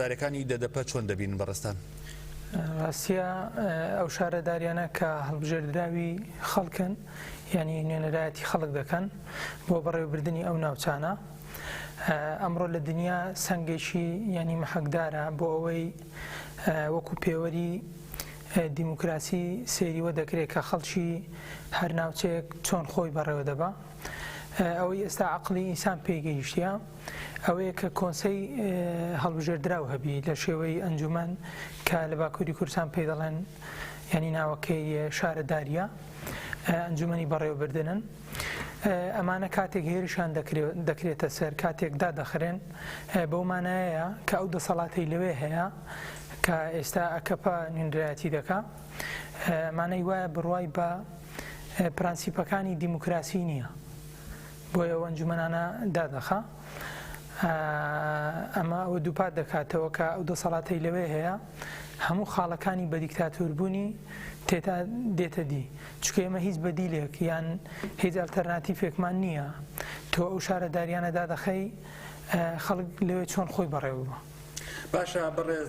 دارەکانی دەدەپە چۆن دەبینن بەڕێزتان؟ ڕاستیە ئەو شارەداریانە کە هەڵبژێردراوی خەڵکن یعنی نوێنەرایەتی خەڵک دەکەن بۆ بەڕێوبردنی ئەو ناوچانە ئەمڕۆ لە دنیا سنگێکی یعنی محەکدارە بۆ ئەوەی وەکو پێوەری دیموکراسی سێریوە دەکرێت کە خەڵکی هەر ناوچەیەک چۆن خۆی بەڕێوە دەبا ئەوەی ئێستا عقلی ئینسان پێگەیشتە ئەوەیە کە کۆنسەی هەڵبژێردراو هەبی لە شێوەی ئەنجومەن کە لە باکووری کوردستان پێی دەڵێن یعنی ناوەکەی شارەداریە ئەنجومەنی بەڕێوەبردنن ئەمانە کاتێک هێرشان دەکرێتە سەر کاتێک دادەخرێن بەو مانایەیە کە ئەو دەسەڵاتی لەوێ هەیە کە ئێستا ئەکەپە نوێنرایەتی دەکا مانەی وایە بڕوای بە پرەنسیپەکانی دیموکراسی نییە بۆی ئەو ئەنجومەنانە دادەخا. ئەمە ئەوە دووپات دەکاتەوە کە ئەو دەسەڵاتەی لەوێ هەیە هەموو خاڵەکانی بە دیکتاتوربوونی تێتا دێتە دی چکە ئێمە هیچ بەدیلێک یان هیچ ئەلتەرناتیفێکمان نییە تۆ ئەو شارەداریانە دادەخەی خەڵک لەوێ چۆن خۆی بەڕێوە باشە بەڕێز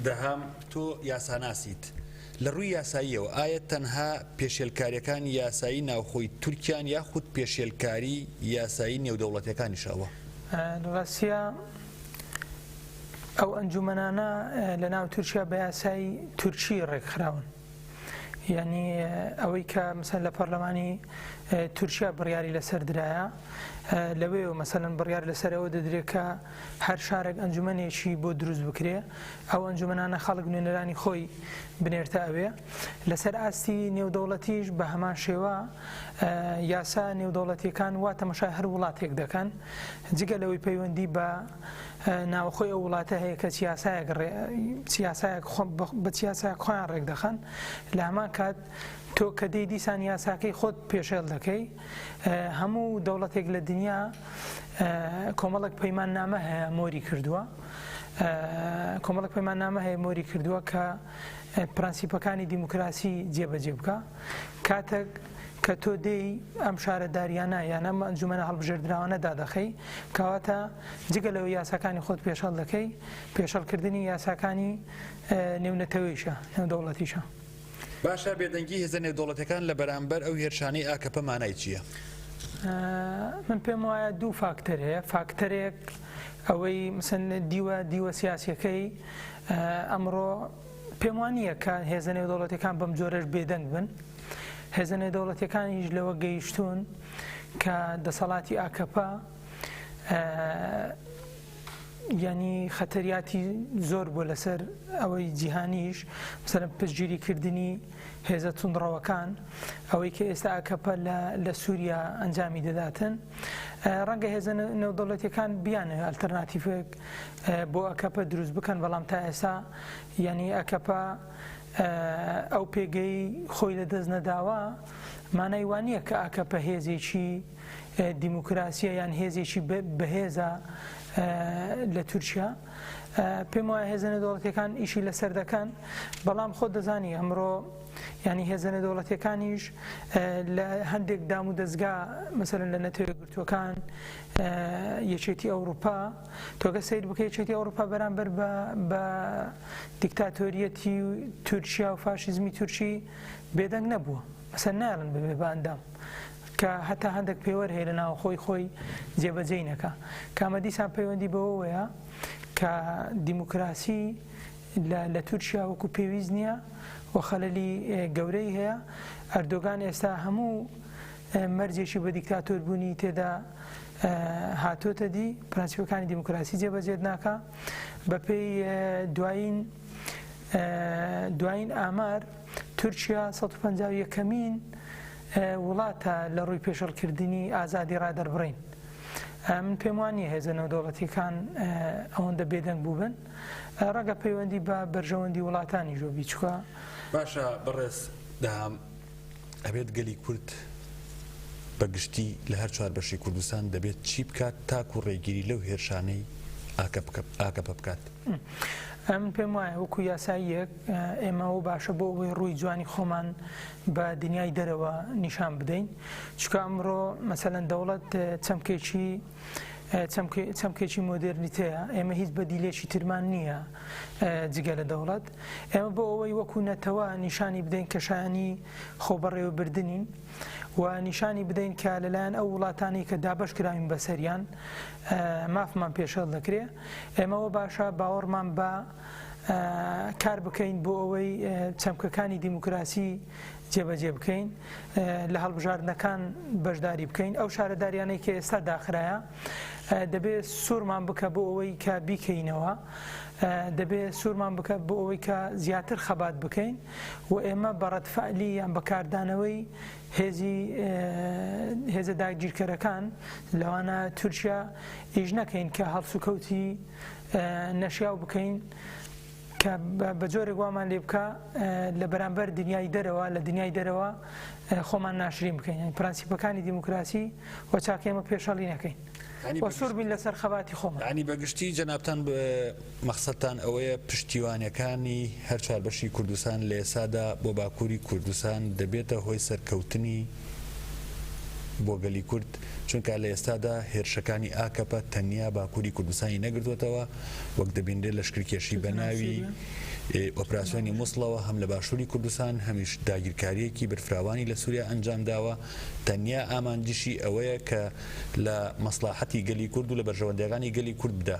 دەهام تۆ یاساناسیت، لە ڕووی یاساییەوە ئایا تەنها پێشێلکارییەکانی یاسایی ناوخۆی تورکیان یاخود پێشێلکاری یاسایی نێودەوڵەتییەکانیش ئەوە؟ لە ڕاستیا ئەو ئەنجومەنانە لە ناو تورکیا بە یاسای تورکی ڕێکخراون. یانی ئەوەی کە مثلەن لە پەرلەمانی تورکیا بڕیاری لەسەر درایە لەوێ و مەسەن بڕیار لەسەرەوە دەدرێت کە هەر شارێک ئەنجومەنێکی بۆ دروست بکرێ ئەو ئەنجومەنانە خەڵک نوێنەرانی خۆی بنێرتە ئەوێ لەسەر ئاستی نێودەوڵەتیش بە هەمان شێوە یاسا نێودەوڵەتیەکان وا تەمەشای هەر وڵاتێک دەکەن جگە لەوەی پەیوەندی بە ناوەخۆی ئەو وڵاتە هەیە کە یاسایەک ڕێ یاسایەک خۆ بە یاسایەک خۆیان ڕێکدەخەن لە هەمان کات تۆ کە دێی دیسان یاساکەی خۆت پێشێل دەکەی هەموو دەوڵەتێک لە دنیا کۆمەڵک پەیمان نامە هەیە مۆری کردووە کۆمەڵک پەیمان نامە هەیە مۆری کردووە کە پرەنسیپەکانی دیموکراسی جێبەجێ بکە کاتێک کە تۆ دێی ئەم شارەدارییانە یان ئەم ئەنجومەنە هەڵبژێردراوانە دادەخەی، کەواتە جگە لەوەی یاساکانی خۆت پێشێڵ دەکەی، پێشێڵکردنی یاساکانی نێونەتەوەیشە، نێودەوڵەتیشە. باشە بێدەنگی هێزە نێودەوڵەتیەکان لە بەرامبەر ئەو هێرشانەی ئاکەپە مانای چییە؟ من پێم وایە دوو فاکتەر هەیە، فاکتەرێک ئەوەی مسن دیوە دیوە سیاسیەکەی ئەمڕۆ پێم وا نییە کە هێزە نێودەوڵەتیەکان بەم جۆرەش بێدەنگ بن هێزە نێودەوڵەتیەکانیش لەوە گەیشتون کە دەسەڵاتی ئاکەپە ینی خەتەریاتی زۆر بۆ لەسەر ئەوەی جیهانیش سەر پشتگیری کردنی هێزە تونڕەوەکان ئەوەی کە ئێستا ئاکەپە لە سووریا ئەنجامی دەداتن ڕەنگە هێزە نێودەوڵەتەکان بیانە ئەلتەرناتیفێک بۆ ئەکەپە دروست بکەن بەڵام تا ئێسا یانی ئەکەپە ئەو پێگەی خۆی لە دەست نەداوە مانای وانە کە ئاکەپە هێزێکی دیموکراسیە یان هێزێکی بەهێزە لە تورکیا پێم وایە هێزنە دەوڵەتەکان ئیشی لەسەر دەکەن بەڵام خۆ دەزانی ئەمڕۆ ینی هێزنە دەوڵەتەکانیش لە هەندێک دام و دەستگا مثلن لە نەتەوە گرتوەکان یەکێتی ئەوروپا تۆ گەر سەیر بکەی یەکێتی ئەوڕوپا بەرامبەر بە بە دیکتاتۆریەتی تورکیا و فاشیزمی تورکی بێدەنگ نەبووە مەسەن نایڵن ببێ بە ئەندام کە هەتا هەندێک پێوەر هەیە لە ناوەخۆی خۆی جێبەجێی نەکا کامە دیسان پەیوەندی بەوەوەیە کە دیموکراسی لە تورکیا وەکو پێویست نییە و خەلەلی گەورەی هەیە ئەردۆگان ئێستا هەموو مەرجێکی بە دیکتاتۆر بوونی تێدا هاتۆتە دی پرەنسیپەکانی دیموکراسی جێبەجێت ناکا بە پێی دوایین دوایین ئامار تورکیا 150 یەکەمین وڵاتە لە ڕووی پێشڵکردنی ئازادی ڕادەربڕین من پێم وانە هێزە نەودەوڵەتیەکان ئەوەندە بێدەنگ بووبن ڕەگە پەیوەندی بە بەرژەوەندی وڵاتانی ژۆ بیچکە باشە بەڕێز دام ئەبێت گەلی کورد بە گشتی لە هەر چوار بەشی کوردستان دەبێت چی بکات تاکو ڕێگیری لەو هێرشانەی ئاکەپە بکات؟ من پێم وایە وەکو یاساییەک ئێمە ئەوە باشە بۆ ئەوەی ڕووی جوانی خۆمان بە دنیای دەرەوە نیشان بدەین چکە ئەمڕۆ مەسەەن دەوڵەت چەمکێکی چەمکێکی مۆدێرنیتەیە، ئێمە هیچ بەدیلێکی ترمان نییە جگە لە دەوڵەت، ئێمە بۆ ئەوەی وەکو نەتەوە نیشانی بدەین کە شایەنی خۆبەڕێوەبردنین و نیشانی بدەین کە لەلایەن ئەو وڵاتانەی کە دابەش کراوین بەسەریان مافمان پێشێڵ دەکرێ، ئێمەوە باشە باوەڕمان بە کار بکەین بۆ ئەوەی چەمکەکانی دیموکراسی جێبەجێ بکەین، لە هەڵبژاردنەکان بەشداری بکەین، ئەو شارەداریانەی کە ئێستا داخرایە دەبێ سوورمان بکە بۆ ئەوەی کە بیکەینەوە، دەبێ سوورمان بکە بۆ ئەوەی کە زیاتر خەبات بکەین و ئێمە بە ڕەدفعلی یان بە کاردانەوەی هێزی هێزە داگیرکەرەکان لەوانە تورکیا ئیش نەکەین کە هەڵسوکەوتی نەشیاو بکەین. کە بە جۆرێک وامان لێ بکا لە بەرامبەر دنیای دەرەوە لە دنیای دەرەوە خۆمان ناشرین بکەین یعنی پرەنسیپەکانی دیموکراسی و چاکەی ئێمە پێشەڵی نەکەین ینی وە سوور بین لەسەر خەباتی خۆمان ینی بەگشتی جەنابان مەخسەتان ئەوەیە پشتیوانەکانی هەر چوار بەشی کوردستان لە ئێسادا بۆ باکووری کوردستان دەبێتە هۆی سەرکەوتنی بۆ گەلی کورد، چونکە لە ئێستادا هێرشەکانی ئاکەپە تەنیا باکووری کوردستانی نەگرتووەتەوە، وەک دەبینرێت لەشکرکێشی بەناوی ئۆپراسیۆنی موسڵەوە هەم لە باشووری کوردستان هەمیش داگیرکارییەکی بەرفراوانی لە سووریا ئەنجامداوە، تەنیا ئامانجیشی ئەوەیە کە لە مەسڵاحەتی گەلی کورد و لە بەرژەوەندییەکانی گەلی کورد بدا،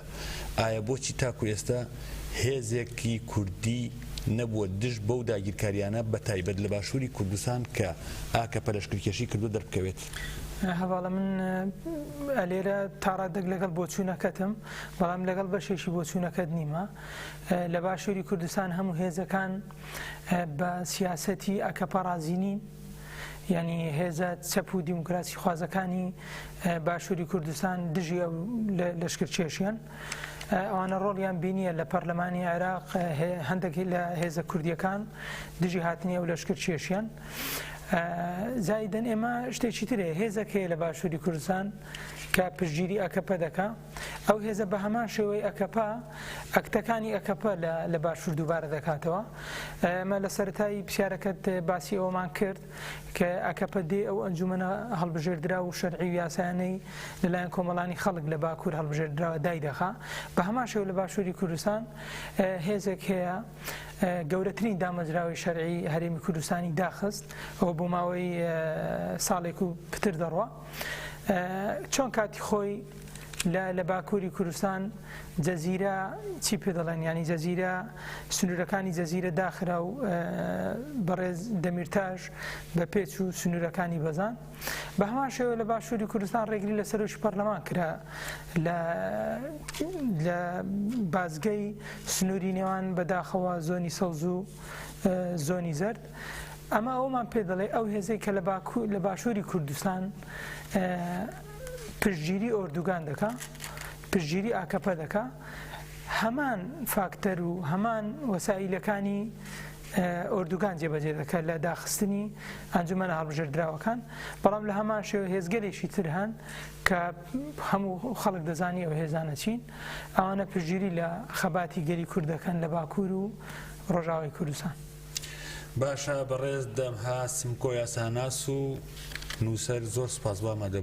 ئایا بۆچی تاکو ئێستا هێزێکی کوردی نەبووە دژ بەو داگیرکاریانە بەتایبەت لە باشووری کوردستان کە ئاکەپە لەشکرکێشی کردووە دەربکەوێت؟ هەڤاڵە من لێرە تاڕادەک لەگەڵ بۆچوونەکەتم بەڵام لەگەڵ بەشێکی بۆچوونەکەت نیمە لە باشووری کوردستان هەموو هێزەکان بە سیاسەتی ئەکەپە ڕازینین ینی هێزە چەپ و دیموکراسی خوازەکانی باشووری کوردستان دژی لەشکرچێشیان ئەوانە ڕۆڵیان بینییە لە پەرلەمانی عێراق هەندێک لە هێزە کوردیەکان دژی هاتنی ئەو لەشکر کێشیان زایدن ئێمە شتێکی ترێ هێزەک هەیە لە باشووری کوردستان کە پشگیری ئەکەپە دەکا ئەو هێزە بە هەمان شێوەی ئەکەپە ئەکتەکانی ئەکەپە لە باشوور دووبارە دەکاتەوە ئەمە لە سەرای پرسیارەکەت باسی ئەومان کرد کە ئەکەپە دێ ئەو ئەنجومەنە هەڵبژێردراو و شەرعی و یاسایانەی لەلایەن کۆمەڵانی خەڵک لە باکوور هەڵبژێردراوە دایدەخا، بە هەمان شێوە لە باشووری کوردستان هێزێک هەیە گەورەترین دامەزراوەی شەرعی هەرێمی کوردستانی داخست و بۆ ماوەی ساڵێک و پتر دەڕوا. چۆن کاتی خۆی لە لە باکووری کوردستان جەزیرە چی پێ دەڵێن ینی جەزیرە سنوورەکانی جەزیرە داخرا و بەڕێز دەمیرتاش بە پێچ و سنوورەکانی بەزان بە هەمان شێوە لە باشووری کوردستان ڕێگری لە سەرۆکی پەرلەمان کرا لە لە بازگەی سنووری نێوان بەداخەوە زۆنی سەوز و زۆنی زرد ئەمە ئەوەمان پێ دەڵێ ئەو هێزەی کە لە باشووری کوردستان پشتگیری ئۆردوگان دەکا پشتگیری ئاکەپە دەکا هەمان فاکتەر و هەمان وەسائیلەکانی ئۆردوگان جێبەجێ دەکات لە داخستنی ئەنجومەنە هەڵبژێردراوەکان بەڵام لە هەمان شێوە هێزگەلێکی تر هەن کە هەموو خەڵک دەزانی ئەو هێزانە چین ئەوانە پژگیری لە خەباتی گەری کوردەکەن لە باکوور و ڕۆژاوای کوردستان. باشە بەڕێز دەمها سمکۆ یاساناس و نوسەر زۆر سوپاس وامادەبوو.